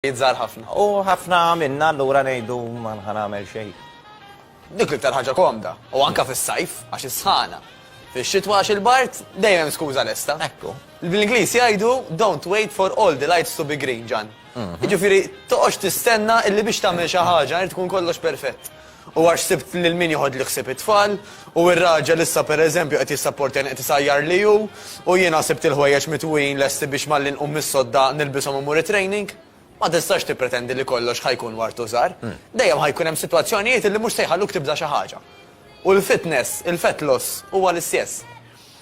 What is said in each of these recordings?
Iż-żgħar ħafna. U ħafna minna allura ngħidu ma nħa nagħmel xejn. Dik l-iktar ħaġa komda, u anke fis-sajf għax is-sħana. Fix-xitwa għax il-bard dejjem hemm skuża lesta. Ekku. Bl-Ingliż jgħidu don't wait for all the lights to be green, Ġann. Jiġifieri toqgħodx tistenna illi biex tagħmel xi ħaġa jrid ikun kollox perfett. U għax sibt lil min joħodli ħsieb it-tfal, u r-raġel issa per eżempju qed jissapportjani qed isajjarli hu, u jiena sibt il-ħwejjeġ mitwujin lesti biex malli nqum mis-sodda nilbishom u mmur it-training, ma tistax tippretendi li kollox ħa jkun war tużar. Dejjem ħa jkun hemm sitwazzjonijiet li mhux se jħalluk tibża' xi ħaġa. U l-fitness, il-fat loss, huwa l-istjess.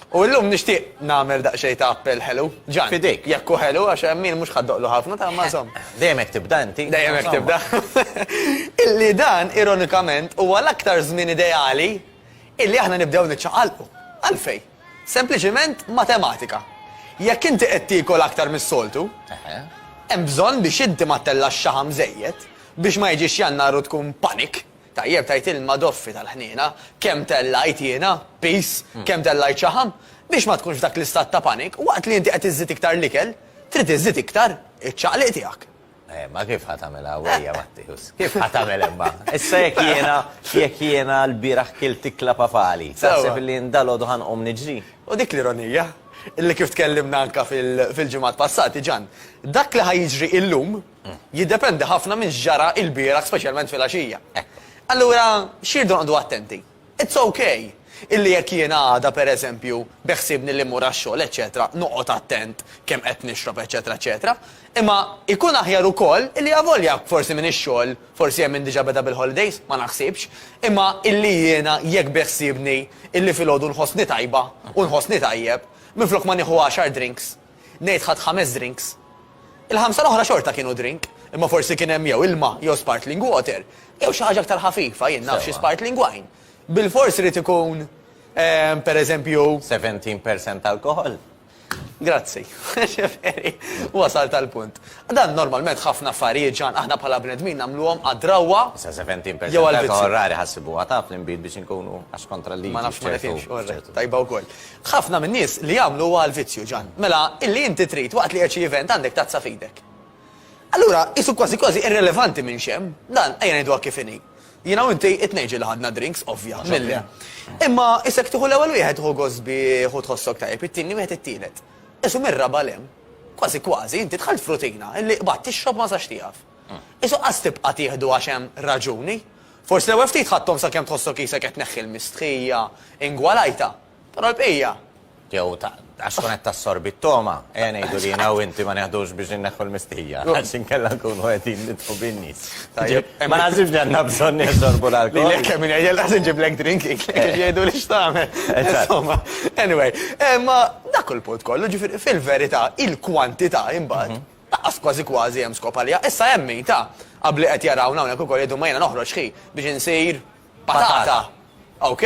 U illum nixtieq nagħmel daqsxejn ta' appell ħelu. Ġan. F'idejk. Jekk hu ħelu għax Emil mhux ħa ddoqlu ħafna ta' imma insomma. Dejjem hekk tibda inti. Dejjem hekk tibda. Illi dan ironikament huwa l-aktar żmien ideali illi aħna nibdew niċċaqalqu. Għalfejn? Sempliċiment matematika. Jekk inti qed tiekol aktar mis-soltu, hemm bżonn biex inti ma ttellax xaħam żejjed biex ma jiġix Jannar u tkun panic. Tajjeb tgħid ilma doffi tal-ħniena, kemm tellajt jiena, piż, kemm tellajt xaħam, biex ma tkunx f'dak l-istat ta' panik, waqt li inti qed iżżid iktar l-ikel, trid iżżid iktar iċ-ċaqliq tiegħek. Eh, imma kif ħa tagħmilha għawwejja, Matteus? Kif ħa tagħmel imma? Issa jekk jiena, jekk jiena l-bieraħ kilt ikla papali, taħseb li jien dalgħodu ħa nqum niġri? U dik l-ironija, illi kif tkellimna anke fil-ġimgħat passati, Ġann, dak li ħa jiġri illum, jiddependi ħafna minn x'ġara ilbieraħ speċjalment filgħaxija. Allura x'irdu noqogħdu attenti? It's ok illi jekk jiena għada pereżempju beħsiebni li mmur għax-xogħol eċċetera noqgħod attent kemm qed nixrob eċċetera eċċetera, imma jkun aħjar ukoll illi avolja forsi m'iniex xogħol, forsi hemm min diġà beda bil-holidays, ma naħsibx, imma illi jiena jekk beħsiebni illi filgħodu nħossni tajba u nħossni tajjeb, minflok ma nieħu għaxar drinks, Ngħid ħadt ħames drinks. Il-ħamsa l-oħra xorta kienu drink, imma forsi kien hemm jew ilma jew spartling water, jew xi ħaġa aktar ħafifa, jien naf xi spartling wine. Bilfors irid ikun, pereżempju. Seventeen percent alcohol? Grazzi. Ġifieri, wasalt għall-punt. Dan normalment ħafna affarijiet, Ġan, aħna bħala bnedmin nagħmluhom għad-drawwa. Issa seventeen percent alcohol rari ħassibuha taf l-inbid biex inkunu għax kontra l-liġi. Ma nafx ma nifhimx, tajba wkoll. Ħafna min-nies li jagħmlu huwa l-vizzju, Ġann. Mela, illi inti trid, waqt li qiegħed xi event, għandek tazza f'idek. Allura, qisu kważi kważi irrilevanti minn x'hemm. Dan, ejja ngħiduha kif inhi. Jiena u inti it-tnejn ġieli ħadna drinks, ovvja, milli. Imma, isek tieħu l-ewwel wieħed tieħu gost bih u tħossok tajjeb, it-tieni wieħed it-tielet. Qisu mir-raba' 'l hemm. Kważi kważi, inti dħalt f'rutina, illi qbadt tixrob ma sax tieqaf. Qisu qas tibqa' tieħdu għax hemm raġuni. Forsi l-ewwel ftit ħadthom sakemm tħossok qisek qed tneħħi l-mistħija ingwalajta, però l-bqija? Jew għax tkun qed tassorbi t-togħma, ejja ngħidu li jiena u inti ma neħdux biex inneħħu l-mistħija, għax inkella nkunu qegħdin nidħlu bin-nies. Tajjeb, ma naħsibx li għandna bżonn nixorbu l-alkoħol. Lilek kemm min jgħidilha se nġiblek drink kif jgħiduli x'tagħmel. Insomma, anyway, imma dak hu l-punt kollu, ġifieri fil-verità il-kwantità imbagħad Laqqas kważi kważi hemm skop għaliha. Issa hemm min, ta, ab li qed jarawna hawnhekk ukoll jgħidu ma jiena noħroġ ħi biex insir patata. Ok?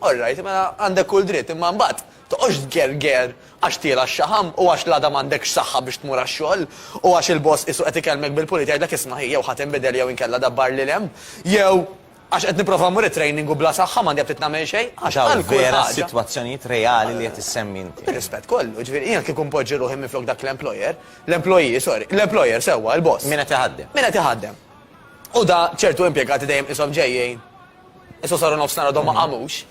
All right, mela għandek kull dritt, imma mbagħad toqgħodx tgerger għax tiela' x-xaħam u għax l-għada m'għandekx saħħa biex tmur għax-xogħol u għax il-boss qisu qed ikellmek bil-pulit jgħidlek isma' ħi jew ħa tinbidel jew inkella dabbar lil hemm jew Għax qed nipprova mmur it-training u bla saħħa m'għandi aptit nagħmel xejn. Għax hawn vera sitwazzjonijiet reali li qed issemmi inti. Bir-rispett kollu, jiġifieri jiena kieku npoġġi ruħi minflok dak l-employer, l-employee, sorry, l-employer sewwa, il-boss. Min qed iħaddem. Min qed iħaddem. U da ċertu impjegati dejjem qishom ġejjin. Issa saru nofsinhar għadhom ma qamux.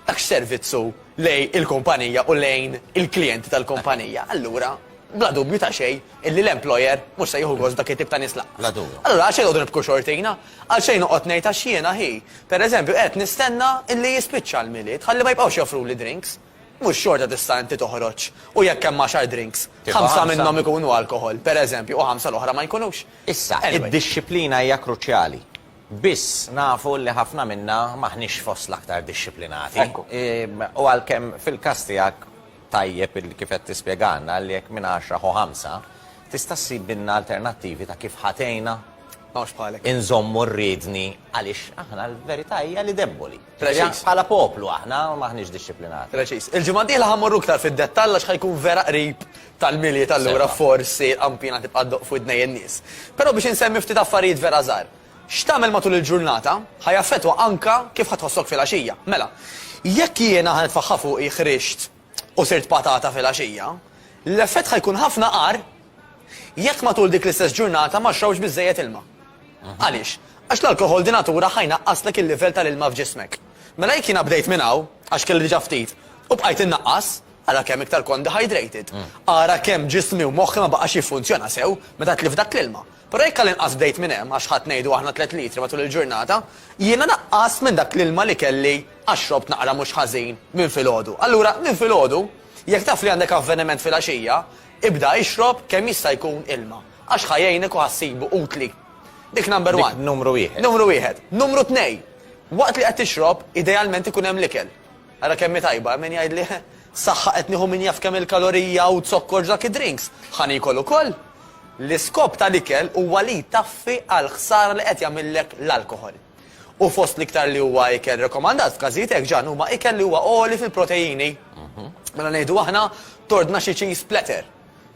Dak x'servizz hu lejn il-kumpanija u lejn il-klijenti tal-kumpanija. Allura, bla dubju ta' xejn, illi l-employer mhux se jieħu gost b'dak it-tip ta' nies lanqas. Bla dubju. Allura għalxejn noqgħod nibku xortina? Għalxejn noqgħod ngħid għax jiena hi, pereżempju, qed nistenna illi jispiċċa l-Milied ħalli ma jibqgħux joffruli drinks? Mhux xorta tista' inti toħroġ u jekk hemm għaxar drinks, ħamsa minnhom ikunu alkoħol, pereżempju, u ħamsa l-oħra ma jkunux? Issa, id-dixxiplina hija kruċjali. Biss nafu li ħafna minna m'aħniex fost l-aktar dixxiplinati. U għalkemm fil-każ tiegħek Tajjeb li kif qed tispjegalna li jekk minn għaxra ħu ħamsa, tista' ssibilna alternattivi ta' kif ħa tgħinna inżommu r-riedni għaliex aħna l-verità hija li debboli. Bħala poplu aħna m'aħniex dixxiplinati. Preċiż. Il-ġimgħa d-dieħla ħa mmorru iktar fid-dettall għax ħa jkun vera qrib tal-Milied allura forsi l-qanpiena tibqa' ddoqq f'widnejn in-nies. Però biex insemmi ftit affarijiet vera żgħar. X'tagħmel matul il-ġurnata ħa jaffettwa anke kif ħa tħossok filgħaxija. Mela, jekk jiena ħa nitfaħħa fuqi ħrixt u sirt patata filgħaxija, l-effett ħa jkun ħafna agħar jekk matul dik l-istess ġurnata ma xrobtx biżżejjed ilma. Għaliex? Għax l-alkoħol di natura ħa jnaqqaslek il-livell tal-ilma f'ġismek. Mela jekk jiena bdejt minn hawn, għax kelli diġà ftit, u bqajt innaqqas, ara kemm iktar kont dehydrated. Ara kemm ġismi u moħħi ma baqax jiffunzjona sew meta tlift dak l-ilma. Però jekk għall-inqas bdejt minn hemm, għax ħadt ngħidu aħna tliet litri matul il-ġurnata, jiena naqqast minn dak l-ilma li kelli għax xrobt naqra mhux ħażin minn filgħodu. Allura, minn filgħodu, jekk taf li għandek avveniment filgħaxija, ibda ixrob kemm jista' jkun ilma, għax ħa jgħinek u ħa ssibu utli. Dik number one. Dik numru wieħed. Numru wieħed. Numru tnej, waqt li qed tixrob, idealment ikun hemm l-ikel. Ara kemm hi tajba, hemm min jgħidli, Saħħa qed nieħu min jaf kemm il-kalorija u zokkor dak id-drinks. Ħa niekol ukoll? L-iskop tal-ikel huwa li jtaffi għall-ħsara li qed jagħmillek l-alkoħol. U fost l-iktar li huwa ikel rekomandat f'każijiet hekk ġan huma ikel li huwa għoli fil-proteini. Mela ngħidu aħna, tordna xi cheese platter,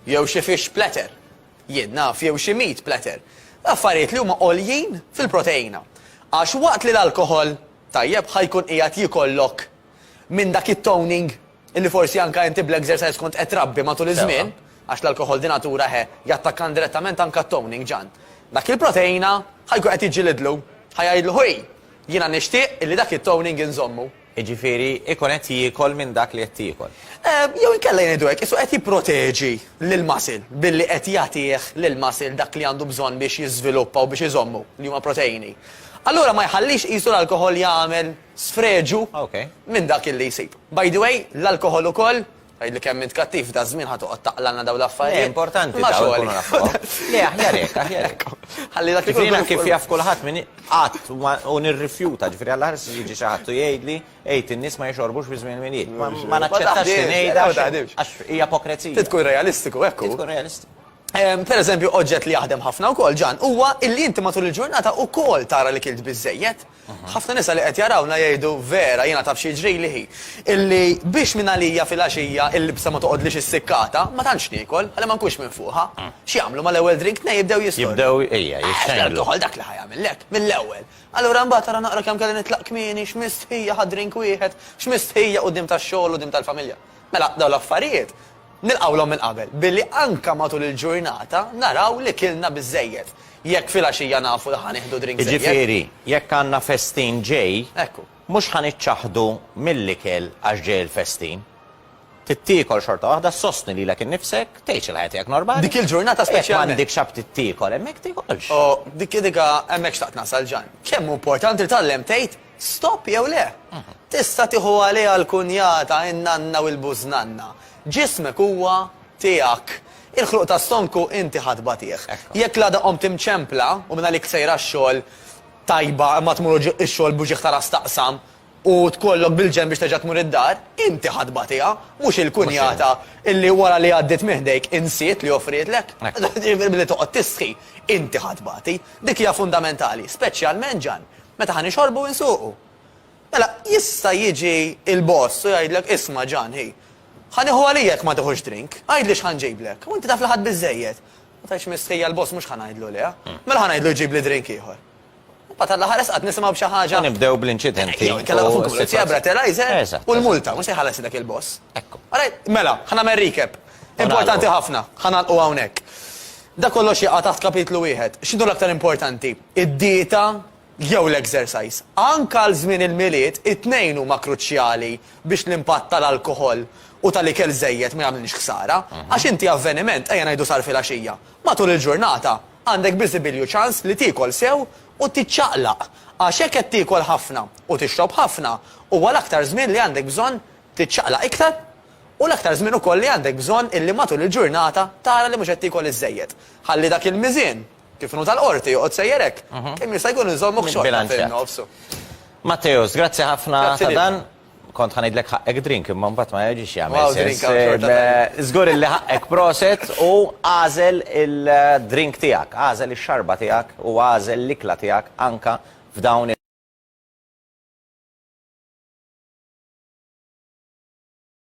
jew xi fish platter, jien naf, jew xi meat platter. Affarijiet li huma għoljin fil-proteina. Għax waqt li l-alkoħol, Tajjeb ħa jkun qiegħed jikollok minn dak it-toning illi forsi anke inti bl-exercise kont qed trabbi matul iż-żmien, għax l-alkoħol di natura he, jattakka indirettament anke t-toning, Ġann. Dak il-proteina ħa jkun qed jiġġilidlu, ħa jgħidlu hi, jiena nixtieq illi dak it-toning inżommu. Jiġifieri jkun qed jiekol minn dak li qed tiekol. Jew inkella ngħidu hekk, qisu qed jipproteġi lill-muscle billi qed jagħtih lill-muscle dak li għandu bżonn biex jiżviluppa u biex iżommu, li huma proteini. Allura ma jħallix qisu l-alkoħol jagħmel sfreġu minn dak illi jsib. By the way, l-alkoħol ukoll, tgħidli kemm int kattiv f'daż-żmien ħa toqgħod taqlagħlna dawn l-affarijiet. Le, importanti dawn ikunu nafuhom. Le, aħjar hekk, aħjar hekk. Ħalli dak ikun. Jiena kif jaf kulħadd min qatt u nirrifjuta, ġifieri għall-aħħar se jiġi xi ħadd u jgħidli għid in-nies ma jixorbux fi żmien il-Milied. Ma naċċettax li ngħidha għax hija pokrezija. Trid tkun realistiku, hekk hu. Trid tkun realistiku. Pereżempju, oġġett li jaħdem ħafna wkoll, Ġan, huwa illi inti matul il-ġurnata wkoll tara li kilt biżżejjed. Ħafna nisa li qed jarawna jgħidu, Vera, jiena taf xi jiġrili hi, illi biex mingħalija filgħaxija l-libsa ma toqgħodlix issikkata, ma tantx niekol, ħalli ma nkunx minfuħa. X'jagħmlu mal-ewwel drink? Tnejn jibdew jistordu. Jibdew, ejja, jixxenglu. Toħol dak li ħa jagħmillek, mill-ewwel. Allura mbagħad ara naqra kemm kelli nitlaq kmieni, x'mistħija ħadt drink wieħed, x'mistħija quddiem tax-xogħol u quddiem tal-familja. Mela, dawn l-affarijiet Nilqgħulhom minn qabel billi anke matul il-ġurnata naraw li kilna biżżejjed. Jekk filgħaxija nafu li ħa nieħdu drink żejjed. Jiġifieri, jekk għandna festin ġej, mhux ħa niċċaħħdu mill-ikel għax ġej il-festin. Trid tiekol xorta waħda, ssostni lilek innifsek, tgħix il-ħajja tiegħek normali. Dik il-ġurnata speċjalment. Jekk m'għandikx aptit tiekol hemmhekk tiekolx. Oh, dik, dik, hemmhekk xtaqt nasal Ġann. Kemm hu importanti li tgħallem tgħid Stop jew le? Tista' tieħu għaliha l-kunjata, in-nanna u l-bużnanna. Ġismek huwa tiegħek. Il-ħluq ta' stonku inti ħa tbatih. Jekk l-għada qomt imċempla u mingħalik sejr għax-xogħol, tajba, imma tmur u x-xogħol b'uġigħ ta' ras taqsam u tkollok bil-ġenb biex terġa' tmur id-dar, inti ħa tbatiha, mhux il-kunjata illi wara li għaddiet minn ħdejk insiet li offrietlek. Billi toqgħod tistħi, inti ħa tbati. Dik hija fundamentali, speċjalment, Ġann, Meta ħa nixorbu u nsuqu. Mela, jista' jiġi l-boss u jgħidlek, isma' Ġan, hi, ħa nieħu għalija jekk ma tiħux drink, għidli x'ħa nġiblek. U inti taf li ħadt biżżejjed. Ma tgħidx mistħija l-boss mhux ħa ngħidlu lejha. Mela ħa ngħidlu jġibli drink ieħor. Imbagħad għall-aħħar esqat nisimgħu b'xi ħaġa. Nibdew bl-inċidenti. Jew inkella fuq il-pulizija breathalyzer u l-multa, mhux se jħallasilek il-boss. Ekku. Mela, ħa nagħmel recap. Importanti ħafna, ħa nagħlqu hawnhekk. Dak kollox jaqa' taħt kapitlu wieħed. X'inhu l-aktar importanti? id-dieta jew l-exercise. Anke għal żmien il-Milied, it-tnejn huma kruċjali biex l-impatt tal-alkoħol u tal-ikel żejjed ma jagħmlilx ħsara. Għax inti avveniment, ejja ngħidu sar filgħaxija, matul il-ġurnata għandek biżibilju ċans li tiekol sew u tiċċaqlaq. Għax jekk qed tiekol ħafna u tixrob ħafna, huwa l-aktar żmien li għandek bżonn tiċċaqlaq iktar u l-aktar żmien ukoll li għandek bżonn illi matul il-ġurnata tara li mhux qed tiekol iż-żejjed. Ħalli dak il-miżien Kif inhu tal-Qorti, joqgħod sejjer hekk. Kemm jista' jkun inżommuk xorta fin-nofs. Matteus, grazzi ħafna ta' dan. Kont ħa ngħidlek ħaqqek drink imma mbagħad ma jiġix jagħmel sens. Żgur illi ħaqqek proset u agħżel il-drink tiegħek, agħżel ix-xarba tiegħek u agħżel l-ikla tiegħek anke f'dawn